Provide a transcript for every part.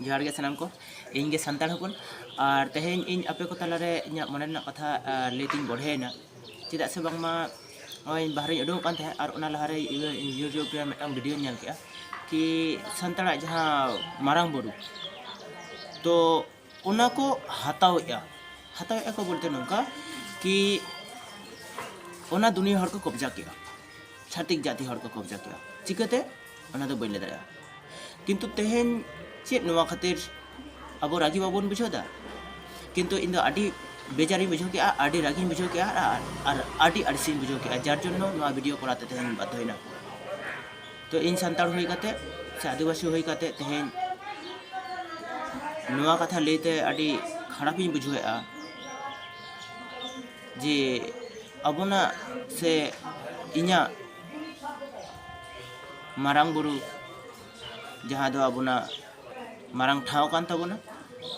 ᱡᱚᱦᱟᱨ ᱜᱮ ᱥᱟᱱᱟᱢ ᱠᱚ ᱤᱧ ᱜᱮ ᱥᱟᱱᱛᱟᱲ ᱦᱚᱯᱚᱱ ᱟᱨ ᱛᱮᱦᱮᱧ ᱤᱧ ᱟᱯᱮ ᱠᱚ ᱛᱟᱞᱟᱨᱮ ᱤᱧᱟᱹᱜ ᱢᱚᱱᱮ ᱨᱮᱱᱟᱜ ᱠᱟᱛᱷᱟ ᱞᱟᱹᱭ ᱛᱤᱧ ᱵᱚᱲᱦᱮᱭᱮᱱᱟ ᱪᱮᱫᱟᱜ ᱥᱮ ᱵᱟᱝᱢᱟ ᱱᱚᱜᱼᱚᱭ ᱵᱟᱦᱨᱮᱧ ᱩᱰᱩᱠᱚᱜ ᱠᱟᱱ ᱛᱟᱦᱮᱸᱫ ᱟᱨ ᱚᱱᱟ ᱞᱟᱦᱟᱨᱮ ᱤᱭᱩᱴᱤᱭᱩᱵᱽ ᱨᱮ ᱢᱤᱫᱴᱟᱝ ᱵᱷᱤᱰᱤᱭᱳᱧ ᱧᱮᱞ ᱠᱮᱫᱼᱟ ᱠᱤ ᱥᱟᱱᱛᱟᱲᱟᱜ ᱡᱟᱦᱟᱸ ᱢᱟᱨᱟᱝ ᱵᱩᱨᱩ ᱛᱚ ᱚᱱᱟ ᱠᱚ ᱦᱟᱛᱟᱣᱮᱜᱼᱟ ᱦᱟᱛᱟᱣᱮᱜᱼᱟ ᱠᱚ ᱵᱚᱞᱛᱮ ᱱᱚᱝᱠᱟ ᱠᱤ ᱚᱱᱟ ᱫᱩᱱᱤᱭᱟᱹ ᱦᱚᱲ ᱠᱚ ᱠᱚᱵᱽᱡᱟ ᱠᱮᱜᱼᱟ ᱪᱷᱟᱛᱤᱠ ᱡᱟᱹᱛᱤ ᱦᱚᱲ ᱠᱚ ᱠᱚᱵᱽᱡᱟ ᱠᱮᱜᱼᱟ ᱪᱤᱠᱟᱹᱛᱮ ᱚᱱᱟ ᱫᱚ ᱵᱟᱹᱧ ᱞᱟᱹᱭ ᱫᱟᱲᱮᱭᱟᱜᱼᱟ ᱠᱤᱱᱛᱩ ᱛᱮᱦᱮᱧ ᱪᱮᱫ ᱱᱚᱣᱟ ᱠᱷᱟᱹᱛᱤᱨ ᱟᱵᱚ ᱨᱟᱹᱜᱤ ᱵᱟᱵᱚᱱ ᱵᱩᱡᱷᱟᱹᱣᱫᱟ ᱠᱤᱱᱛᱩ ᱤᱧ ᱫᱚ ᱟᱹᱰᱤ ᱵᱮᱡᱟᱨᱤᱧ ᱵᱩᱡᱷᱟᱹᱣ ᱠᱮᱜᱼᱟ ᱟᱹᱰᱤ ᱨᱟᱹᱜᱤᱧ ᱵᱩᱡᱷᱟᱹᱣ ᱠᱮᱜᱼᱟ ᱟᱨ ᱟᱹᱰᱤ ᱟᱹᱲᱤᱥᱤᱧ ᱵᱩᱡᱷᱟᱹᱣ ᱠᱮᱜᱼᱟ ᱡᱟᱨ ᱡᱚᱱᱱᱚ ᱱᱚᱣᱟ ᱵᱷᱤᱰᱤᱭᱳ ᱠᱚᱨᱟᱣ ᱛᱮ ᱛᱮᱦᱮᱧ ᱵᱟᱫᱽᱫᱷᱚᱭᱮᱱᱟ ᱛᱚ ᱤᱧ ᱥᱟᱱᱛᱟᱲ ᱦᱩᱭ ᱠᱟᱛᱮ ᱥᱮ ᱟᱹᱫᱤᱵᱟᱹᱥᱤ ᱦᱩᱭ ᱠᱟᱛᱮ ᱛᱮᱦᱮᱧ ᱱᱚᱣᱟ ᱠᱟᱛᱷᱟ ᱞᱟᱹᱭ ᱛᱮ ᱟᱹᱰᱤ ᱠᱷᱟᱨᱟᱯ ᱤᱧ ᱵᱩᱡᱷᱟᱹᱣᱮᱫᱼᱟ ᱡᱮ ᱟᱵᱚᱱᱟᱜ ᱥᱮ ᱤᱧᱟᱹᱜ ᱢᱟᱨᱟᱝ ᱵᱩᱨᱩ ᱡᱟᱦᱟᱸ ᱫᱚ ᱟᱵᱚᱱᱟᱜ ᱢᱟᱨᱟᱝ ᱴᱷᱟᱶ ᱠᱟᱱ ᱛᱟᱵᱚᱱᱟ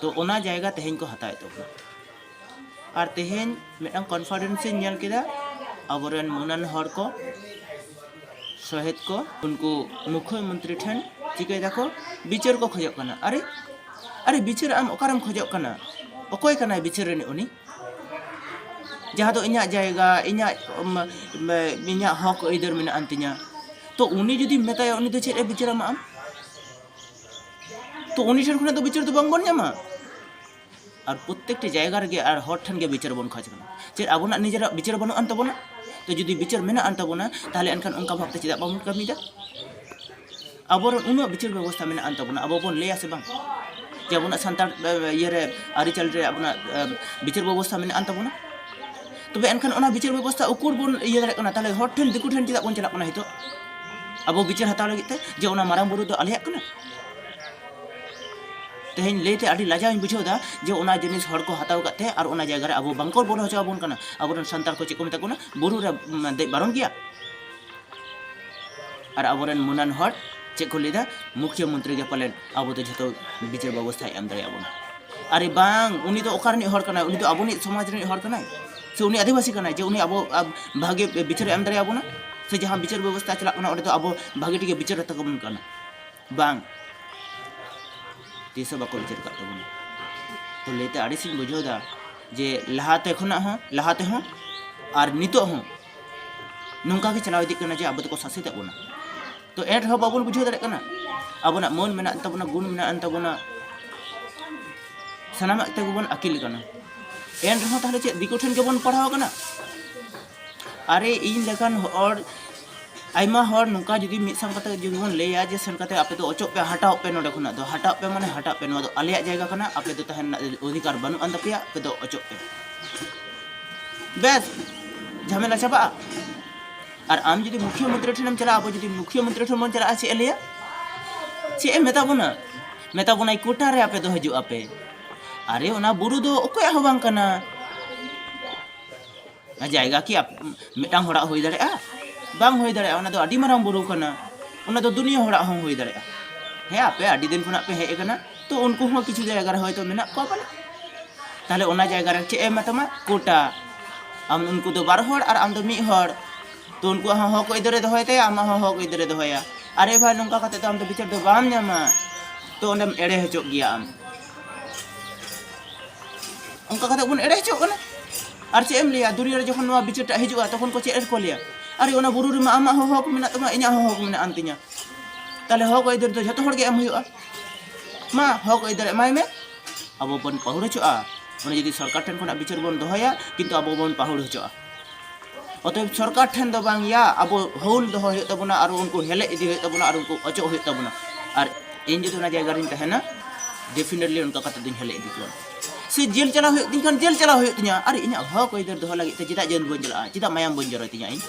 ᱛᱚ ᱚᱱᱟ ᱡᱟᱭᱜᱟ ᱛᱮᱦᱮᱧ ᱠᱚ ᱦᱟᱛᱟᱣᱮᱫ ᱛᱟᱵᱚᱱᱟ ᱟᱨ ᱛᱮᱦᱮᱧ ᱢᱤᱫᱴᱟᱝ ᱠᱚᱱᱯᱷᱟᱨᱮᱱᱥ ᱤᱧ ᱧᱮᱞ ᱠᱮᱫᱟ ᱟᱵᱚᱨᱮᱱ ᱢᱟᱹᱱᱟᱱ ᱦᱚᱲ ᱠᱚ ᱥᱚᱦᱮᱫ ᱠᱚ ᱩᱱᱠᱩ ᱢᱩᱠᱷᱭᱟᱹ ᱢᱚᱱᱛᱨᱤ ᱴᱷᱮᱱ ᱪᱤᱠᱟᱹᱭ ᱫᱟᱠᱚ ᱵᱤᱪᱟᱹᱨ ᱠᱚ ᱠᱷᱚᱡᱚᱜ ᱠᱟᱱᱟ ᱟᱨᱮ ᱟᱨᱮ ᱵᱤᱪᱟᱹᱨ ᱟᱢ ᱚᱠᱟᱨᱮᱢ ᱠᱷᱚᱡᱚᱜ ᱠᱟᱱᱟ ᱚᱠᱚᱭ ᱠᱟᱱᱟᱭ ᱵᱤᱪᱟᱹᱨ ᱨᱤᱱᱤᱡ ᱩᱱᱤ ᱡᱟᱦᱟᱸ ᱫᱚ ᱤᱧᱟᱹᱜ ᱡᱟᱭᱜᱟ ᱤᱧᱟᱹᱜ ᱤᱧᱟᱹᱜ ᱦᱚᱠ ᱟᱹᱭᱫᱟᱹᱨ ᱢᱮᱱᱟᱜ ᱟᱱ ᱛᱤᱧᱟ ᱛᱚ ᱩᱱᱤ ᱡᱩᱫᱤᱢ ᱢᱮᱛᱟᱭᱟ ᱩᱱᱤ ᱫᱚ ᱪᱮᱫ ᱮ ᱵᱤᱪᱟᱹᱨᱟᱢᱟ ᱟᱢ ᱛᱚ ᱩᱱᱤ ᱴᱷᱮᱱ ᱠᱷᱚᱱᱟᱜ ᱫᱚ ᱵᱤᱪᱟᱹᱨ ᱫᱚ ᱵᱟᱝᱵᱚᱱ ᱧᱟᱢᱟ ᱟᱨ ᱯᱨᱚᱛᱮᱠᱴᱤ ᱡᱟᱭᱜᱟ ᱨᱮᱜᱮ ᱟᱨ ᱦᱚᱲ ᱴᱷᱮᱱ ᱜᱮ ᱵᱤᱪᱟᱹᱨ ᱵᱚᱱ ᱠᱷᱚᱡᱽ ᱠᱟᱱᱟ ᱪᱮᱫ ᱟᱵᱚᱱᱟᱜ ᱱᱤᱡᱮᱨᱟᱜ ᱵᱤᱪᱟᱹᱨ ᱵᱟᱹᱱᱩᱜ ᱟᱱ ᱛᱟᱵᱚᱱᱟ ᱛᱚ ᱡᱩᱫᱤ ᱵᱤᱪᱟᱹᱨ ᱢᱮᱱᱟᱜ ᱟᱱ ᱛᱟᱵᱚᱱᱟ ᱛᱟᱦᱚᱞᱮ ᱮᱱᱠᱷᱟᱱ ᱚᱱᱠᱟ ᱵᱷᱟᱵᱽᱛᱮ ᱪᱮᱫᱟᱜ ᱵᱟᱵᱚᱱ ᱠᱟᱹᱢᱤᱭᱮᱫᱟ ᱟᱵᱚᱨᱮᱱ ᱩᱱᱟᱹᱜ ᱵᱤᱪᱟᱹᱨ ᱵᱮᱵᱚᱥᱛᱷᱟ ᱢᱮᱱᱟᱜ ᱟᱱ ᱛᱟᱵᱚᱱᱟ ᱟᱵᱚ ᱵᱚᱱ ᱞᱟᱹᱭᱟ ᱥᱮ ᱵᱟᱝ ᱡᱮ ᱟᱵᱚᱱᱟᱜ ᱥᱟᱱᱛᱟᱲ ᱤᱭᱟᱹᱨᱮ ᱟᱹᱨᱤᱪᱟᱹᱞᱤ ᱨᱮ ᱟᱵᱚᱱᱟᱜ ᱵᱤᱪᱟᱹᱨ ᱵᱮᱵᱚᱥᱛᱷᱟ ᱢᱮᱱᱟᱜ ᱟᱱ ᱛᱟᱵᱚᱱᱟ ᱛᱚᱵᱮ ᱮᱱᱠᱷᱟᱱ ᱚᱱᱟ ᱵᱤᱪᱟᱹᱨ ᱵᱮᱵᱚᱥᱛᱷᱟ ᱩᱠᱩᱨ ᱵᱚᱱ ᱤᱭᱟᱹ ᱫᱟᱲᱮᱭᱟᱜ ᱠᱟᱱᱟ ᱛᱟᱦᱚᱞᱮ ᱦᱚᱲ ᱴᱷᱮᱱ ᱫᱤᱠᱩ ᱴᱷᱮᱱ ᱪᱮᱫᱟᱜ ᱵᱚᱱ ᱪᱟᱞᱟᱜ ᱠᱟᱱᱟ ᱱᱤᱛᱚᱜ ᱟᱵᱚ ᱵᱤᱪᱟᱹᱨ ᱦᱟᱛᱟᱣ ᱞᱟᱹᱜᱤᱫ ᱛᱮ ᱡᱮ ᱚᱱᱟ ᱢᱟᱨᱟᱝ ᱵᱩᱨᱩ ᱫᱚ ᱟᱞᱮᱭᱟᱜ ᱠᱟᱱᱟ ᱛᱮᱦᱮᱧ ᱞᱟᱹᱭᱛᱮ ᱟᱹᱰᱤ ᱞᱟᱡᱟᱣ ᱤᱧ ᱵᱩᱡᱷᱟᱹᱣ ᱮᱫᱟ ᱡᱮ ᱚᱱᱟ ᱡᱤᱱᱤᱥ ᱦᱚᱲ ᱠᱚ ᱦᱟᱛᱟᱣ ᱠᱟᱜ ᱛᱮ ᱟᱨ ᱚᱱᱟ ᱡᱟᱭᱜᱟ ᱨᱮ ᱟᱵᱚ ᱵᱟᱝ ᱠᱚ ᱵᱚᱞᱚ ᱦᱚᱪᱚ ᱟᱵᱚᱱ ᱠᱟᱱᱟ ᱟᱵᱚᱨᱮᱱ ᱥᱟᱱᱛᱟᱲ ᱠᱚ ᱪᱮᱫ ᱠᱚ ᱢᱮᱛᱟ ᱠᱚ ᱠᱟᱱᱟ ᱵᱩᱨᱩ ᱨᱮ ᱫᱮᱡ ᱵᱟᱨᱚᱱ ᱜᱮᱭᱟ ᱟᱨ ᱟᱵᱚᱨᱮᱱ ᱢᱩᱱᱟᱱ ᱦᱚᱲ ᱪᱮᱫ ᱠᱚ ᱞᱟᱹᱭᱫᱟ ᱢᱩᱠᱷᱭᱟᱹ ᱢᱚᱱᱛᱨᱤ ᱜᱮ ᱯᱟᱞᱮᱱ ᱟᱵᱚ ᱫᱚ ᱡᱷᱚᱛᱚ ᱵᱤᱪᱟᱹᱨ ᱵᱮᱵᱚᱥᱛᱷᱟᱭ ᱮᱢ ᱫᱟᱲᱮᱭᱟ ᱵᱚᱱᱟ ᱟᱨᱮ ᱵᱟᱝ ᱩᱱᱤ ᱫᱚ ᱚᱠᱟ ᱨᱤᱱᱤᱡ ᱦᱚᱲ ᱠᱟᱱᱟᱭ ᱩᱱᱤ ᱫᱚ ᱟᱵᱚᱱᱤᱡ ᱥᱚᱢᱟᱡᱽ ᱨᱤᱱᱤᱡ ᱦᱚᱲ ᱠᱟᱱᱟᱭ ᱥᱮ ᱩᱱᱤ ᱟᱹᱫᱤᱵᱟᱹᱥᱤ ᱠᱟᱱᱟᱭ ᱡᱮ ᱩᱱᱤ ᱟᱵᱚ ᱵᱷᱟᱜᱮ ᱵᱤᱪᱟᱹᱨ ᱮᱢ ᱫᱟᱲᱮᱭᱟ ᱵᱚᱱᱟ ᱥᱮ ᱡᱟᱦᱟᱸ ᱵᱤᱪᱟᱹᱨ ᱵᱮᱵᱚᱥᱛᱷᱟ ᱪᱟᱞᱟᱜ ᱠᱟᱱᱟ ᱚᱸᱰᱮ ᱫᱚ ᱟᱵᱚ ᱵᱷᱟᱜᱮ ᱴᱷᱤᱠ ᱜᱮ ᱵᱤᱪᱟᱹᱨ ᱟᱛᱟ ᱠᱚᱵᱚᱱ ᱠᱟᱱᱟ ᱵᱟᱝ ᱛᱤᱥ ᱦᱚᱸ ᱵᱟᱠᱚ ᱵᱤᱪᱟᱹᱨ ᱠᱟᱜ ᱛᱟᱵᱚᱱᱟ ᱛᱚ ᱞᱟᱹᱭᱛᱮ ᱟᱹᱲᱤᱥᱤᱧ ᱵᱩᱡᱷᱟᱹᱣ ᱮᱫᱟ ᱡᱮ ᱞᱟᱦᱟᱛᱮ ᱠᱷᱚᱱᱟᱜ ᱦᱚᱸ ᱞᱟᱦᱟ ᱛᱮᱦᱚᱸ ᱟᱨ ᱱᱤᱛᱚᱜ ᱦᱚᱸ ᱱᱚᱝᱠᱟ ᱜᱮ ᱪᱟᱞᱟᱣ ᱤᱫᱤᱜ ᱠᱟᱱᱟ ᱡᱮ ᱟᱵᱚ ᱫᱚᱠᱚ ᱥᱟᱥᱮᱛᱮᱫ ᱵᱚᱱᱟ ᱛᱚ ᱮᱱ ᱨᱮᱦᱚᱸ ᱵᱟᱵᱚᱱ ᱵᱩᱡᱷᱟᱹᱣ ᱫᱟᱲᱮᱭᱟᱜ ᱠᱟᱱᱟ ᱟᱵᱚᱱᱟᱜ ᱢᱟᱹᱱ ᱢᱮᱱᱟᱜ ᱛᱟᱵᱚᱱᱟ ᱜᱩᱱ ᱢᱮᱱᱟᱜ ᱛᱟᱵᱚᱱᱟ ᱥᱟᱱᱟᱢᱟᱜ ᱛᱮᱜᱮ ᱵᱚᱱ ᱟᱹᱠᱤᱞ ᱠᱟᱱᱟ ᱮᱱ ᱨᱮᱦᱚᱸ ᱛᱟᱦᱚᱞᱮ ᱪᱮᱫ ᱫᱤᱠᱩ ᱴᱷᱮᱱ ᱜᱮᱵᱚᱱ ᱯᱟᱲᱦᱟᱣ ᱠᱟᱱᱟ ᱟᱨᱮ ᱤᱧ ᱞᱮᱠᱟᱱ ᱦᱚᱲ ᱟᱭᱢᱟ ᱦᱚᱲ ᱱᱚᱝᱠᱟ ᱡᱩᱫᱤ ᱢᱤᱫ ᱥᱟᱶ ᱠᱟᱛᱮ ᱡᱩᱫᱤ ᱵᱚᱱ ᱞᱟᱹᱭᱟ ᱡᱮ ᱥᱮᱱ ᱠᱟᱛᱮ ᱟᱯᱮ ᱫᱚ ᱚᱪᱚᱜ ᱯᱮ ᱦᱟᱴᱟᱣᱚᱜ ᱯᱮ ᱱᱚᱰᱮ ᱠᱷᱚᱱᱟᱜ ᱫᱚ ᱦᱟᱴᱟᱣᱚᱜ ᱯᱮ ᱢᱟᱱᱮ ᱦᱟᱴᱟᱜ ᱯᱮ ᱱᱚᱣᱟ ᱫᱚ ᱟᱞᱮᱭᱟᱜ ᱡᱟᱭᱜᱟ ᱠᱟᱱᱟ ᱟᱯᱮ ᱫᱚ ᱛᱟᱦᱮᱱ ᱨᱮᱱᱟᱜ ᱚᱫᱷᱤᱠᱟᱨ ᱵᱟᱹᱱᱩᱜ ᱟᱱ ᱛᱟᱯᱮᱭᱟ ᱟᱯᱮ ᱫᱚ ᱚᱪᱚᱜ ᱯᱮ ᱵᱮᱥ ᱡᱷᱟᱢᱮᱞᱟ ᱪᱟᱵᱟᱜᱼᱟ ᱟᱨ ᱟᱢ ᱡᱩᱫᱤ ᱢᱩᱠᱷᱤᱭᱟᱹ ᱢᱚᱱᱛᱨᱤ ᱴᱷᱮᱱᱮᱢ ᱪᱟᱞᱟᱜᱼᱟ ᱟᱵᱚ ᱡᱩᱫᱤ ᱢᱩᱠᱷᱤᱭᱟᱹ ᱢᱚᱱᱛᱨᱤ ᱴᱷᱮᱱ ᱵᱚᱱ ᱪᱟᱞᱟᱜᱼᱟ ᱪᱮᱫ ᱮ ᱞᱟᱹᱭᱟ ᱪᱮᱫ ᱮ ᱢᱮᱛᱟ ᱵᱚᱱᱟ ᱢᱮᱛᱟ ᱵᱚᱱᱟᱭ ᱠᱳᱴᱟ ᱨᱮ ᱟᱯᱮ ᱫᱚ ᱦᱤᱡᱩᱜ ᱟᱯᱮ ᱟᱨᱮ ᱚᱱᱟ ᱵᱩᱨᱩ ᱫᱚ ᱚᱠᱚᱭᱟᱜ ᱦᱚᱸ ᱵᱟᱝ ᱠᱟᱱᱟ ᱡᱟᱭᱜᱟ ᱠᱤ ᱢᱤᱫᱴᱟᱝ ᱦᱚᱲᱟᱜ ᱦᱩᱭ ᱫᱟᱲᱮᱭᱟᱜᱼᱟ ᱵᱟᱝ ᱦᱩᱭ ᱫᱟᱲᱮᱭᱟᱜᱼᱟ ᱚᱱᱟ ᱫᱚ ᱟᱹᱰᱤ ᱢᱟᱨᱟᱝ ᱵᱩᱨᱩ ᱠᱟᱱᱟ ᱚᱱᱟ ᱫᱚ ᱫᱩᱱᱤᱭᱟᱹ ᱦᱚᱲᱟᱜ ᱦᱚᱸ ᱦᱩᱭ ᱫᱟᱲᱮᱭᱟᱜᱼᱟ ᱦᱮᱸ ᱟᱯᱮ ᱟᱹᱰᱤ ᱫᱤᱱ ᱠᱷᱚᱱᱟᱜ ᱯᱮ ᱦᱮᱡ ᱟᱠᱟᱱᱟ ᱛᱚ ᱩᱱᱠᱩ ᱦᱚᱸ ᱠᱤᱪᱷᱩ ᱡᱟᱭᱜᱟ ᱨᱮ ᱦᱚᱭᱛᱚ ᱢᱮᱱᱟᱜ ᱠᱚᱣᱟ ᱯᱟᱞᱮ ᱛᱟᱦᱞᱮ ᱚᱱᱟ ᱡᱟᱭᱜᱟ ᱨᱮ ᱪᱮᱫ ᱮ ᱮᱢᱟ ᱛᱟᱢᱟ ᱠᱳᱴᱟ ᱟᱢ ᱩᱱᱠᱩ ᱫᱚ ᱵᱟᱨ ᱦᱚᱲ ᱟᱨ ᱟᱢ ᱫᱚ ᱢᱤᱫ ᱦᱚᱲ ᱛᱚ ᱩᱱᱠᱩᱣᱟᱜ ᱦᱚᱸ ᱦᱚᱠ ᱟᱹᱭᱫᱟᱹᱨᱮ ᱫᱚᱦᱚᱭ ᱛᱟᱭᱟ ᱟᱢᱟᱜ ᱦᱚᱸ ᱦᱚᱠ ᱟᱹᱭᱫᱟᱹᱨᱮ ᱫᱚᱦᱚᱭᱟ ᱟᱨᱮ ᱵᱷᱟᱭ ᱱᱚᱝᱠᱟ ᱠᱟᱛᱮ ᱫᱚ ᱟᱢ ᱫᱚ ᱵᱤᱪᱟᱹᱨ ᱫᱚ ᱵᱟᱢ ᱧᱟᱢᱟ ᱛᱚ ᱚᱸᱰᱮᱢ ᱮᱲᱮ ᱦᱚᱪᱚᱜ ᱜᱮᱭᱟ ᱟᱢ ᱚᱱᱠᱟ ᱠᱟᱛᱮ ᱵᱚᱱ ᱮᱲᱮ ᱦᱚᱪᱚᱜ ᱠᱟᱱᱟ ᱟᱨ ᱪᱮᱫ ᱮᱢ ᱞᱟᱹᱭᱟ ᱫᱩᱱᱤᱭᱟᱹ ᱨᱮ ᱡᱚᱠᱷᱚᱱ ᱱᱚᱣᱟ ᱵᱤᱪᱟᱹᱨᱴᱟᱜ ᱦᱤᱡᱩᱜᱼᱟ ᱛᱚᱠᱷᱚᱱ ᱠᱚ ᱪᱮᱫ ᱨᱮᱠᱚ ᱞᱟᱹᱭᱟ ᱟᱨ ᱚᱱᱟ ᱵᱩᱨᱩ ᱨᱮᱢᱟ ᱟᱢᱟᱜ ᱦᱚᱸ ᱦᱚᱠ ᱢᱮᱱᱟᱜ ᱛᱟᱢᱟ ᱤᱧᱟᱹᱜ ᱦᱚᱸ ᱦᱚᱠ ᱢᱮᱱᱟᱜ ᱟᱱ ᱛᱤᱧᱟ ᱛᱟᱦᱞᱮ ᱦᱚᱠ ᱟᱹᱭᱫᱟᱹᱨ ᱫᱚ ᱡᱷᱚᱛᱚ ᱦᱚᱲ ᱜᱮ ᱮᱢ ᱦᱩᱭᱩᱜᱼᱟ ᱢᱟ ᱦᱚᱠ ᱟᱹᱭᱫᱟᱹᱨ ᱮᱢᱟᱭ ᱢᱮ ᱟᱵᱚ ᱵᱚᱱ ᱯᱟᱹᱦᱩᱲ ᱦᱚᱪᱚᱜᱼᱟ ᱚᱱᱟ ᱡᱩᱫᱤ ᱥᱚᱨᱠᱟᱨ ᱴᱷᱮᱱ ᱠᱷᱚᱱᱟᱜ ᱵᱤᱪᱟᱹᱨ ᱵᱚᱱ ᱫᱚᱦᱚᱭᱟ ᱠᱤᱱᱛᱩ ᱟᱵᱚ ᱵᱚᱱ ᱯᱟᱹᱦᱩᱲ ᱦᱚᱪᱚᱜᱼᱟ ᱚᱛᱚᱭᱮᱵ ᱥᱚᱨᱠᱟᱨ ᱴᱷᱮᱱ ᱫᱚ ᱵᱟᱝ ᱭᱟ ᱟᱵᱚ ᱦᱳᱞ ᱫᱚᱦᱚ ᱦᱩᱭᱩᱜ ᱛᱟᱵᱚᱱᱟ ᱟᱨ ᱩᱱᱠᱩ ᱦᱮᱞᱮᱡ ᱤᱫᱤ ᱦᱩᱭᱩᱜ ᱛᱟᱵᱚᱱᱟ ᱟᱨ ᱩᱱᱠᱩ ᱚᱪᱚᱜ ᱦᱩᱭᱩᱜ ᱛᱟᱵᱚᱱᱟ ᱟᱨ ᱤᱧ ᱡᱩᱫᱤ ᱚᱱᱟ ᱡᱟᱭᱜᱟ ᱨᱤᱧ ᱛᱟᱦᱮᱱᱟ ᱰᱮᱯᱷᱤᱱᱮᱴᱞᱤ ᱚᱱᱠᱟ ᱠᱟᱛᱮ ᱫᱩᱧ ᱦᱮᱞᱮᱡ ᱤᱫᱤ ᱠᱚᱣᱟ ᱥᱮ ᱡᱮᱞ ᱪᱟᱞᱟᱣ ᱦᱩᱭᱩᱜ ᱛᱤᱧ ᱠᱷᱟᱱ ᱡᱮᱞ ᱪᱟᱞᱟᱣ ᱦᱩᱭᱩᱜ ᱛᱤᱧᱟ ᱟᱨ ᱤᱧᱟᱹᱜ ᱦᱚᱠ ᱟᱹᱭᱫᱟᱹᱨ ᱫᱚᱦᱚ ᱞᱟᱹᱜᱤᱫ ᱛᱮ ᱪᱮᱫᱟᱜ ᱡᱮᱞ ᱵᱟᱹᱧ ᱪᱟᱞᱟᱜᱼᱟ ᱪᱮᱫᱟᱜ ᱢᱟᱭᱟᱢ ᱵᱟᱹᱧ ᱡᱚᱨᱚᱭ ᱛᱤᱧᱟ ᱤᱧ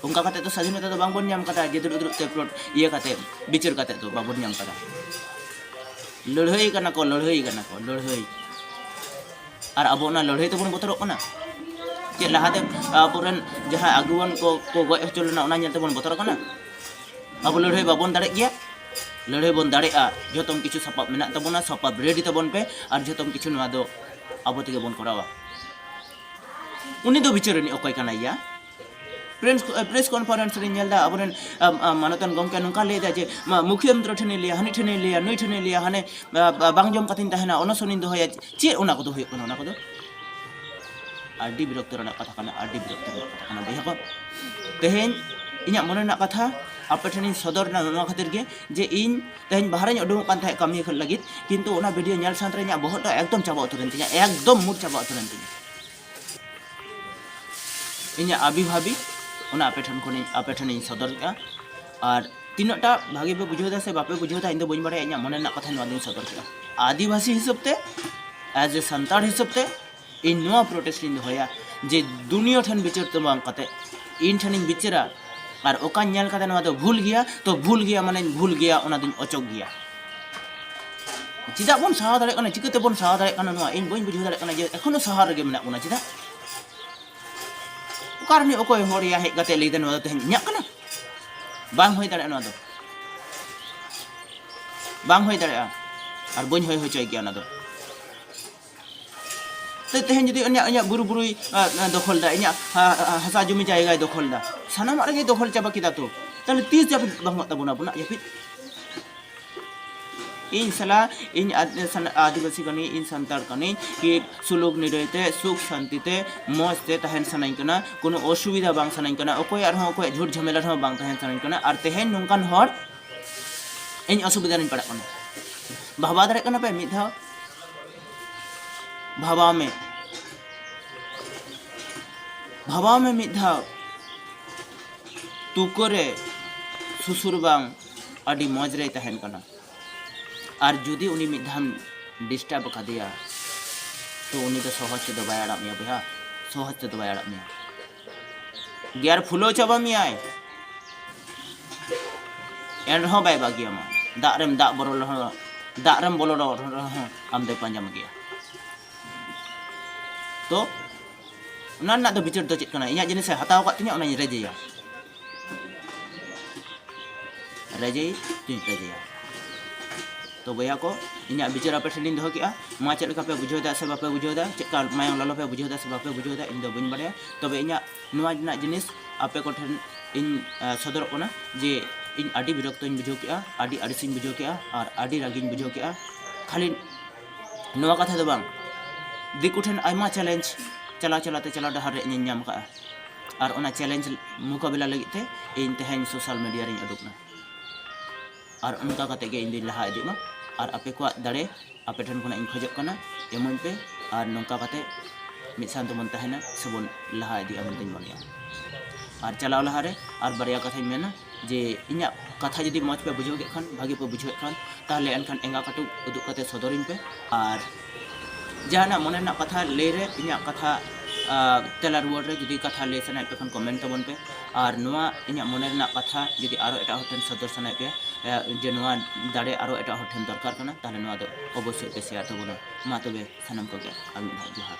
ᱚᱱᱠᱟ ᱠᱟᱛᱮ ᱫᱚ ᱥᱟᱫᱷᱤᱱᱚᱛᱟ ᱫᱚ ᱵᱟᱝᱵᱚᱱ ᱧᱟᱢ ᱠᱟᱫᱟ ᱡᱮ ᱫᱩᱲᱩᱵ ᱫᱩᱲᱩᱵ ᱛᱮ ᱯᱞᱚᱴ ᱤᱭᱟᱹ ᱠᱟᱛᱮ ᱵᱤᱪᱟᱹᱨ ᱠᱟᱛᱮ ᱫᱚ ᱵᱟᱵᱚᱱ ᱧᱟᱢ ᱠᱟᱫᱟ ᱞᱟᱹᱲᱦᱟᱹᱭ ᱠᱟᱱᱟ ᱠᱚ ᱞᱟᱹᱲᱦᱟᱹᱭ ᱠᱟᱱᱟ ᱠᱚ ᱞᱟᱹᱲᱦᱟᱹᱭ ᱟᱨ ᱟᱵᱚ ᱚᱱᱟ ᱞᱟᱹᱲᱦᱟᱹᱭ ᱛᱮᱵᱚᱱ ᱵᱚᱛᱚᱨᱚᱜ ᱠᱟᱱᱟ ᱪᱮ ᱞᱟᱦᱟᱛᱮ ᱟᱵᱚᱨᱮᱱ ᱡᱟᱦᱟᱸ ᱟᱹᱜᱩᱣᱟᱱ ᱠᱚ ᱠᱚ ᱜᱚᱡ ᱦᱚᱪᱚ ᱞᱮᱱᱟ ᱚᱱᱟ ᱧᱮᱞ ᱛᱮᱵᱚᱱ ᱵᱚᱛᱚᱨᱚᱜ ᱠᱟᱱᱟ ᱟᱵᱚ ᱞᱟᱹᱲᱦᱟᱹᱭ ᱵᱟᱵᱚᱱ ᱫᱟᱲᱮᱜ ᱜᱮᱭᱟ ᱞᱟᱹᱲᱦᱟᱹᱭ ᱵᱚᱱ ᱫᱟᱲᱮᱜᱼᱟ ᱡᱚᱛᱚᱢ ᱠᱤᱪᱷᱩ ᱥᱟᱯᱟᱵ ᱢᱮᱱᱟᱜ ᱛᱟᱵᱚᱱᱟ ᱥᱟᱯᱟᱵ ᱨᱮᱰᱤ ᱛᱟᱵᱚᱱ ᱯᱮ ᱟᱨ ᱡᱚᱛᱚᱢ ᱠᱤᱪᱷᱩ ᱱᱚᱣᱟ ᱫᱚ ᱟᱵᱚ ᱛᱮᱜᱮ ᱵᱚᱱ ᱠᱚᱨᱟᱣᱟ ᱩᱱᱤ ᱫᱚ ᱵᱤᱪᱟᱹᱨ ᱨᱤᱱᱤᱡ ᱚᱠᱚᱭ ᱠᱟᱱᱟᱭᱟ ᱯᱨᱮᱥ ᱯᱨᱮᱥ ᱠᱚᱱᱯᱷᱟᱨᱮᱱᱥ ᱨᱮ ᱧᱮᱞ ᱫᱟ ᱟᱵᱚᱨᱮᱱ ᱢᱟᱱᱚᱛᱟᱱ ᱜᱚᱢᱠᱮ ᱱᱚᱝᱠᱟ ᱞᱟᱹᱭ ᱫᱟ ᱡᱮ ᱢᱩᱠᱷᱤᱭᱟᱹ ᱢᱚᱱᱛᱨᱤ ᱴᱷᱮᱱᱤᱧ ᱞᱟᱹᱭᱟ ᱦᱟᱹᱱᱤ ᱴᱷᱮᱱᱤᱧ ᱞᱟᱹᱭᱟ ᱱᱩᱭ ᱴᱷᱮᱱᱤᱧ ᱞᱟᱹᱭᱟ ᱦᱟᱱᱮ ᱵᱟᱝ ᱡᱚᱢ ᱠᱟᱛᱮᱧ ᱛᱟᱦᱮᱱᱟ ᱚᱱᱚᱥᱚᱱᱤᱧ ᱫᱚᱦᱚᱭᱟ ᱪᱮᱫ ᱚᱱᱟ ᱠᱚᱫᱚ ᱦᱩᱭᱩᱜ ᱠᱟᱱᱟ ᱚᱱᱟ ᱠᱚᱫᱚ ᱟᱹᱰᱤ ᱵᱤᱨᱚᱠᱛᱚ ᱨᱮᱱᱟᱜ ᱠᱟᱛᱷᱟ ᱠᱟᱱᱟ ᱟᱹᱰᱤ ᱵᱤᱨᱚᱠᱛᱚ ᱨᱮᱱᱟᱜ ᱠᱟᱛᱷᱟ ᱠᱟᱱᱟ ᱵᱚᱭᱦᱟ ᱠᱚ ᱛᱮᱦᱮᱧ ᱤᱧᱟᱹᱜ ᱢᱚᱱᱮ ᱨᱮᱱᱟᱜ ᱠᱟᱛᱷᱟ ᱟᱯᱮ ᱴᱷᱮᱱᱤᱧ ᱥᱚᱫᱚᱨ ᱮᱱᱟ ᱱᱚᱣᱟ ᱠᱷᱟᱹᱛᱤᱨ ᱜᱮ ᱡᱮ ᱤᱧ ᱛᱮᱦᱮᱧ ᱵᱟᱦᱨᱮᱧ ᱩᱰᱩᱠᱚᱜ ᱠᱟᱱ ᱛᱟᱦᱮᱸᱫ ᱠᱟᱹᱢᱤ ᱞᱟᱹᱜᱤᱫ ᱠᱤᱱᱛᱩ ᱚᱱᱟ ᱵᱷᱤᱰᱤᱭᱳ ᱧᱮᱞ ᱥᱟᱶᱛᱮ ᱤᱧᱟᱹᱜ ᱵᱚᱦᱚᱜ ᱫᱚ ᱮᱠᱫᱚᱢ ᱪᱟᱵᱟ ᱩᱛᱟᱹᱨᱮᱱ ᱛᱤᱧᱟᱹ ᱮᱠᱫᱚᱢ ᱢᱩᱰ ᱪᱟᱵᱟ ᱩᱛᱟᱹᱨᱮᱱ ᱛᱤᱧᱟᱹ ᱤᱧᱟᱹᱜ ᱟᱵᱤ ᱵᱷᱟᱵᱤ ᱚᱱᱟ ᱟᱯᱮ ᱴᱷᱮᱱ ᱠᱷᱚᱱᱤᱧ ᱟᱯᱮ ᱴᱷᱮᱱᱤᱧ ᱥᱚᱫᱚᱨᱮᱫᱼᱟ ᱟᱨ ᱛᱤᱱᱟᱹᱜ ᱴᱟ ᱵᱷᱟᱜᱮ ᱯᱮ ᱵᱩᱡᱷᱟᱹᱣ ᱮᱫᱟ ᱥᱮ ᱵᱟᱯᱮ ᱵᱩᱡᱷᱟᱹᱣ ᱮᱫᱟ ᱤᱧ ᱫᱚ ᱵᱟᱹᱧ ᱵᱟᱲᱟᱭᱟ ᱤᱧᱟᱹᱜ ᱢᱚᱱᱮ ᱨᱮᱱᱟᱜ ᱠᱟᱛᱷᱟ ᱱᱚᱣᱟ ᱫᱚᱧ ᱥᱚᱫᱚᱨ ᱠᱮᱫᱟ ᱟᱹᱫᱤᱵᱟᱹᱥᱤ ᱦᱤᱥᱟᱹᱵ ᱛᱮ ᱮᱡ ᱮ ᱥᱟᱱᱛᱟᱲ ᱦᱤᱥᱟᱹᱵ ᱛᱮ ᱤᱧ ᱱᱚᱣᱟ ᱯᱨᱚᱴᱮᱥᱴ ᱤᱧ ᱫᱚᱦᱚᱭᱟ ᱡᱮ ᱫᱩᱱᱤᱭᱟᱹ ᱴᱷᱮᱱ ᱵᱤᱪᱟᱹᱨ ᱫᱚ ᱵᱟᱝ ᱠᱟᱛᱮ ᱤᱧ ᱴᱷᱮᱱᱤᱧ ᱵᱤᱪᱟᱹᱨᱟ ᱟᱨ ᱚᱠᱟᱧ ᱧᱮᱞ ᱠᱟᱫᱟ ᱱᱚᱣᱟ ᱫᱚ ᱵᱷᱩᱞ ᱜᱮᱭᱟ ᱛᱚ ᱵᱷᱩᱞ ᱜᱮᱭᱟ ᱢᱟᱱᱮᱧ ᱵᱷᱩᱞ ᱜᱮᱭᱟ ᱚᱱᱟ ᱫᱚᱧ ᱚᱪᱚᱜ ᱜᱮᱭᱟ ᱪᱮᱫᱟᱜ ᱵᱚᱱ ᱥᱟᱦᱟᱣ ᱫᱟᱲᱮᱭᱟᱜ ᱠᱟᱱᱟ ᱪᱤᱠᱟᱹᱛᱮ ᱵᱚᱱ ᱥᱟᱦᱟᱣ ᱫᱟᱲᱮᱭᱟᱜ ᱠᱟᱱᱟ ᱱᱚᱣᱟ ᱤᱧ ᱵᱟᱹᱧ ᱵᱩᱡᱷᱟᱹᱣ ᱫᱟᱲᱮᱭᱟᱜ ᱠᱟᱱᱟ ᱡᱮ ᱮᱠᱷᱚᱱᱳ ᱥᱟᱦᱟᱣ ᱨᱮᱜᱮ ᱢᱮᱱᱟᱜ ᱵᱚᱱᱟ ᱪᱮᱫᱟᱜ ᱚᱠᱟ ᱨᱤᱱᱤᱡ ᱚᱠᱚᱭ ᱦᱚᱲ ᱭᱟ ᱦᱮᱡ ᱠᱟᱛᱮ ᱞᱟᱹᱭᱫᱟ ᱱᱚᱣᱟ ᱫᱚ ᱛᱮᱦᱮᱧ ᱤᱧᱟᱹᱜ ᱠᱟᱱᱟ ᱵᱟᱝ ᱦᱩᱭ ᱫᱟᱲᱮᱭᱟᱜᱼᱟ ᱱᱚᱣᱟ ᱫᱚ ᱵᱟᱝ ᱦᱩᱭ ᱫᱟᱲᱮᱭᱟᱜᱼᱟ ᱟᱨ ᱵᱟᱹᱧ ᱦᱩᱭ ᱦᱚᱪᱚᱭ ᱜᱮᱭᱟ ᱚᱱᱟ ᱫᱚ ᱛᱮ ᱛᱮᱦᱮᱧ ᱡᱩᱫᱤ ᱤᱧᱟᱹᱜ ᱤᱧᱟᱹᱜ ᱵᱩᱨᱩ ᱵᱩᱨᱩᱭ ᱫᱚᱠᱷᱚᱞ ᱫᱟ ᱤᱧᱟᱹᱜ ᱦᱟᱥᱟ ᱡᱩᱢᱤ ᱡᱟᱭᱜᱟᱭ ᱫᱚᱠᱷᱚᱞ ᱫᱟ ᱥᱟᱱᱟᱢᱟᱜ ᱨᱮᱜᱮ ᱫᱚᱠᱷᱚᱞ ᱪᱟᱵᱟ ᱠᱮᱫᱟ ᱛᱚ ᱛᱟᱦᱞᱮ ᱛᱤᱥ ᱡᱟᱹᱯᱤᱫ ᱵᱟᱝ ᱦᱩᱭᱩᱜ ᱛᱟᱵᱚᱱᱟ ᱟᱵᱚᱱᱟᱜ ᱡᱟᱹᱯᱤᱫ ᱤᱧ ᱥᱟᱞᱟ ᱤᱧ ᱟᱹᱫᱤᱵᱟᱹᱥᱤ ᱠᱟᱹᱱᱟᱹᱧ ᱤᱧ ᱥᱟᱱᱛᱟᱲ ᱠᱟᱹᱱᱟᱹᱧ ᱠᱤ ᱥᱩᱞᱩᱠ ᱱᱤᱨᱟᱹᱭ ᱛᱮ ᱥᱩᱠ ᱥᱟᱱᱛᱤ ᱛᱮ ᱢᱚᱡᱽ ᱛᱮ ᱛᱟᱦᱮᱱ ᱥᱟᱱᱟᱧ ᱠᱟᱱᱟ ᱠᱳᱱᱳ ᱚᱥᱩᱵᱤᱫᱷᱟ ᱵᱟᱝ ᱥᱟᱱᱟᱧ ᱠᱟᱱᱟ ᱚᱠᱚᱭᱟᱜ ᱨᱮᱦᱚᱸ ᱚᱠᱚᱭᱟᱜ ᱡᱷᱩᱴ ᱡᱷᱟᱢᱮᱞᱟ ᱨᱮᱦᱚᱸ ᱵᱟᱝ ᱛᱟᱦᱮᱱ ᱥᱟᱱᱟᱧ ᱠᱟᱱᱟ ᱟᱨ ᱛᱮᱦᱮᱧ ᱱᱚᱝᱠᱟᱱ ᱦᱚᱲ ᱤᱧ ᱚᱥᱩᱵᱤᱫᱷᱟ ᱨᱤᱧ ᱯᱟᱲᱟᱜ ᱠᱟᱱᱟ ᱵᱷᱟᱵᱟᱣ ᱫᱟᱲᱮᱭᱟᱜ ᱠᱟᱱᱟ ᱯᱮ ᱢᱤᱫ ᱫᱷᱟᱣ ᱵᱷᱟᱵᱟᱣ ᱢᱮ ᱵᱷᱟᱵᱟᱣ ᱢᱮ ᱢᱤᱫ ᱫᱷᱟᱣ ᱛᱩᱠᱟᱹ ᱨᱮ ᱥᱩᱥᱩᱨ ᱵᱟᱝ ᱟᱹᱰᱤ ᱢᱚᱡᱽ ᱨᱮᱭ ᱛᱟᱦᱮᱱ ᱠᱟᱱᱟ ᱟᱨ ᱡᱩᱫᱤ ᱩᱱᱤ ᱢᱤᱫ ᱫᱷᱟᱣ ᱰᱤᱥᱴᱟᱨᱵ ᱟᱠᱟᱫᱮᱭᱟ ᱛᱚ ᱩᱱᱤ ᱫᱚ ᱥᱚᱦᱚᱡᱽ ᱛᱮᱫᱚ ᱵᱟᱭ ᱟᱲᱟᱜ ᱢᱮᱭᱟ ᱵᱚᱭᱦᱟ ᱥᱚᱦᱚᱡᱽ ᱛᱮᱫᱚ ᱵᱟᱭ ᱟᱲᱟᱜ ᱢᱮᱭᱟ ᱜᱮᱭᱟᱨ ᱯᱷᱩᱞᱟᱹᱣ ᱪᱟᱵᱟ ᱢᱮᱭᱟᱭ ᱮᱱ ᱨᱮᱦᱚᱸ ᱵᱟᱭ ᱵᱟᱹᱜᱤᱭᱟ ᱢᱟ ᱫᱟᱜ ᱨᱮᱢ ᱫᱟᱜ ᱵᱚᱞᱚ ᱨᱮᱦᱚᱸ ᱫᱟᱜ ᱨᱮᱢ ᱵᱚᱞᱚ ᱨᱮᱦᱚᱸ ᱟᱢ ᱫᱚᱭ ᱯᱟᱸᱡᱟ ᱢᱮᱜᱮᱭᱟ ᱛᱚ ᱚᱱᱟ ᱨᱮᱱᱟᱜ ᱫᱚ ᱵᱤᱪᱟᱹᱨ ᱫᱚ ᱪᱮᱫ ᱠᱟᱱᱟ ᱤᱧᱟᱹᱜ ᱡᱤᱱᱤᱥᱮ ᱦᱟᱛᱟᱣ ᱟᱠᱟᱫ ᱛᱤᱧᱟᱹ ᱚᱱᱟᱧ ᱨᱮᱡᱮᱭᱟ ᱨᱟᱡᱟᱭ ᱪᱮᱧᱡᱽ ᱨᱟᱡᱟᱭᱟ ᱛᱚ ᱵᱚᱭᱦᱟ ᱠᱚ ᱤᱧᱟᱹᱜ ᱵᱤᱪᱟᱹᱨ ᱟᱯᱮ ᱴᱷᱮᱱ ᱞᱤᱧ ᱫᱚᱦᱚ ᱠᱮᱜᱼᱟ ᱱᱚᱣᱟ ᱪᱮᱫ ᱞᱮᱠᱟ ᱯᱮ ᱵᱩᱡᱷᱟᱹᱣ ᱮᱫᱟ ᱥᱮ ᱵᱟᱯᱮ ᱵᱩᱡᱷᱟᱹᱣ ᱮᱫᱟ ᱪᱮᱫ ᱠᱟ ᱢᱟᱭᱟᱝ ᱞᱚᱞᱚ ᱯᱮ ᱵᱩᱡᱷᱟᱹᱣ ᱮᱫᱟ ᱥᱮ ᱵᱟᱯᱮ ᱵᱩᱡᱷᱟᱹᱣ ᱮᱫᱟ ᱤᱧ ᱫᱚ ᱵᱟᱹᱧ ᱵᱟᱲᱟᱭᱟ ᱛᱚᱵᱮ ᱤᱧᱟᱹᱜ ᱱᱚᱣᱟ ᱨᱮᱱᱟᱜ ᱡᱤᱱᱤᱥ ᱟᱯᱮ ᱠᱚ ᱴᱷᱮᱱ ᱤᱧ ᱥᱚᱫᱚᱨᱚᱜ ᱠᱟᱱᱟ ᱡᱮ ᱤᱧ ᱟᱹᱰᱤ ᱵᱤᱨᱚᱠᱛᱚᱧ ᱵᱩᱡᱷᱟᱹᱣ ᱠᱮᱜᱼᱟ ᱟᱹᱰᱤ ᱟᱹᱲᱤᱥᱤᱧ ᱵᱩᱡᱷᱟᱹᱣ ᱠᱮᱜᱼᱟ ᱟᱨ ᱟᱹᱰᱤ ᱨᱟᱹᱜᱤᱧ ᱵᱩᱡᱷᱟᱹᱣ ᱠᱮᱜᱼᱟ ᱠᱷᱟᱹᱞᱤ ᱱᱚᱣᱟ ᱠᱟᱛᱷᱟ ᱫᱚ ᱵᱟᱝ ᱫᱤᱠᱩ ᱴᱷᱮᱱ ᱟᱭᱢᱟ ᱪᱮᱞᱮᱧᱡᱽ ᱪᱟᱞᱟᱣ ᱪᱟᱞᱟᱣ ᱛᱮ ᱪᱟᱞᱟᱣ ᱰᱟᱦᱟᱨ ᱨᱮ ᱤᱧᱤᱧ ᱧᱟᱢ ᱠᱟᱜᱼᱟ ᱟᱨ ᱚᱱᱟ ᱪᱮᱞᱮᱧᱡᱽ ᱢᱩᱠᱟᱵᱤᱞᱟ ᱞᱟᱹᱜᱤᱫ ᱛᱮ ᱤᱧ ᱛᱮᱦᱮᱧ ᱥᱳᱥᱟᱞ ᱢᱤᱰᱤᱭᱟ ᱨᱤᱧ ᱩᱰᱩᱠ ᱮᱱᱟ ᱟᱨ ᱚᱱᱠᱟ ᱠᱟᱛᱮ ᱜᱮ ᱤᱧ ᱫᱩᱧ ᱞᱟᱦᱟ ᱤᱫᱤᱜ ᱢᱟ ᱟᱨ ᱟᱯᱮ ᱠᱚᱣᱟᱜ ᱫᱟᱲᱮ ᱟᱯᱮ ᱴᱷᱮᱱ ᱠᱷᱚᱱᱟᱜ ᱤᱧ ᱠᱷᱚᱡᱚᱜ ᱠᱟᱱᱟ ᱮᱢᱟᱹᱧ ᱯᱮ ᱟᱨ ᱱᱚᱝᱠᱟ ᱠᱟᱛᱮ ᱢᱤᱫ ᱥᱟᱶ ᱛᱮᱵᱚᱱ ᱛᱟᱦᱮᱱᱟ ᱥᱮᱵᱚᱱ ᱞᱟᱦᱟ ᱤᱫᱤᱜᱼᱟ ᱢᱮᱱᱛᱮᱧ ᱢᱚᱱᱮᱭᱟ ᱟᱨ ᱪᱟᱞᱟᱣ ᱞᱟᱦᱟ ᱨᱮ ᱟᱨ ᱵᱟᱨᱭᱟ ᱠᱟᱛᱷᱟᱧ ᱢᱮᱱᱟ ᱡᱮ ᱤᱧᱟᱹᱜ ᱠᱟᱛᱷᱟ ᱡᱩᱫᱤ ᱢᱚᱡᱽ ᱯᱮ ᱵᱩᱡᱷᱟᱹᱣ ᱠᱮᱫ ᱠᱷᱟᱱ ᱵᱷᱟᱹᱜᱤ ᱯᱮ ᱵᱩᱡᱷᱟᱹᱣᱮᱫ ᱠᱷᱟᱱ ᱛᱟᱦᱚᱞᱮ ᱮᱱᱠᱷᱟᱱ ᱮᱸᱜᱟ ᱠᱟᱹᱴᱩᱵ ᱩᱫᱩᱜ ᱠᱟᱛᱮ ᱥᱚᱫᱚᱨᱤᱧ ᱯᱮ ᱟᱨ ᱡᱟᱦᱟᱱᱟᱜ ᱢᱚᱱᱮ ᱨᱮᱱᱟᱜ ᱠᱟᱛᱷᱟ ᱞᱟᱹᱭ ᱨᱮ ᱤᱧᱟᱹᱜ ᱠᱟᱛᱷᱟ ᱛᱮᱞᱟ ᱨᱩᱣᱟᱹᱲ ᱨᱮ ᱡᱩᱫᱤ ᱠᱟᱛᱷᱟ ᱞᱟᱹᱭ ᱥᱟᱱᱟᱭᱮᱫ ᱯᱮ ᱠᱷᱟᱱ ᱠᱚᱢᱮᱱᱴ ᱛᱟᱵᱚᱱ ᱯᱮ ᱟᱨ ᱱᱚᱣᱟ ᱤᱧᱟᱹᱜ ᱢᱚᱱᱮ ᱨᱮᱱᱟᱜ ᱠᱟᱛᱷᱟ ᱡᱩᱫᱤ ᱟᱨᱚ ᱮᱴᱟᱜ ᱦᱚᱲ ᱴᱷᱮᱱ ᱥᱚᱫᱚᱨ ᱥᱟᱱᱟᱭᱮᱫ ᱯᱮᱭᱟ ᱡᱮ ᱱᱚᱣᱟ ᱫᱟᱲᱮ ᱟᱨᱚ ᱮᱴᱟᱜ ᱦᱚᱲ ᱴᱷᱮᱱ ᱫᱚᱨᱠᱟᱨ ᱠᱟᱱᱟ ᱛᱟᱦᱚᱞᱮ ᱱᱚᱣᱟ ᱫᱚ ᱚᱵᱚᱥᱥᱳᱭ ᱯᱮ ᱥᱮᱭᱟᱨ ᱛᱟᱵᱚᱱᱟ ᱢᱟ ᱛᱚᱵᱮ ᱥᱟᱱᱟᱢ ᱠᱚᱜᱮ ᱟᱨ ᱢᱤᱫ ᱫᱷᱟᱣ ᱡᱚᱦᱟᱨ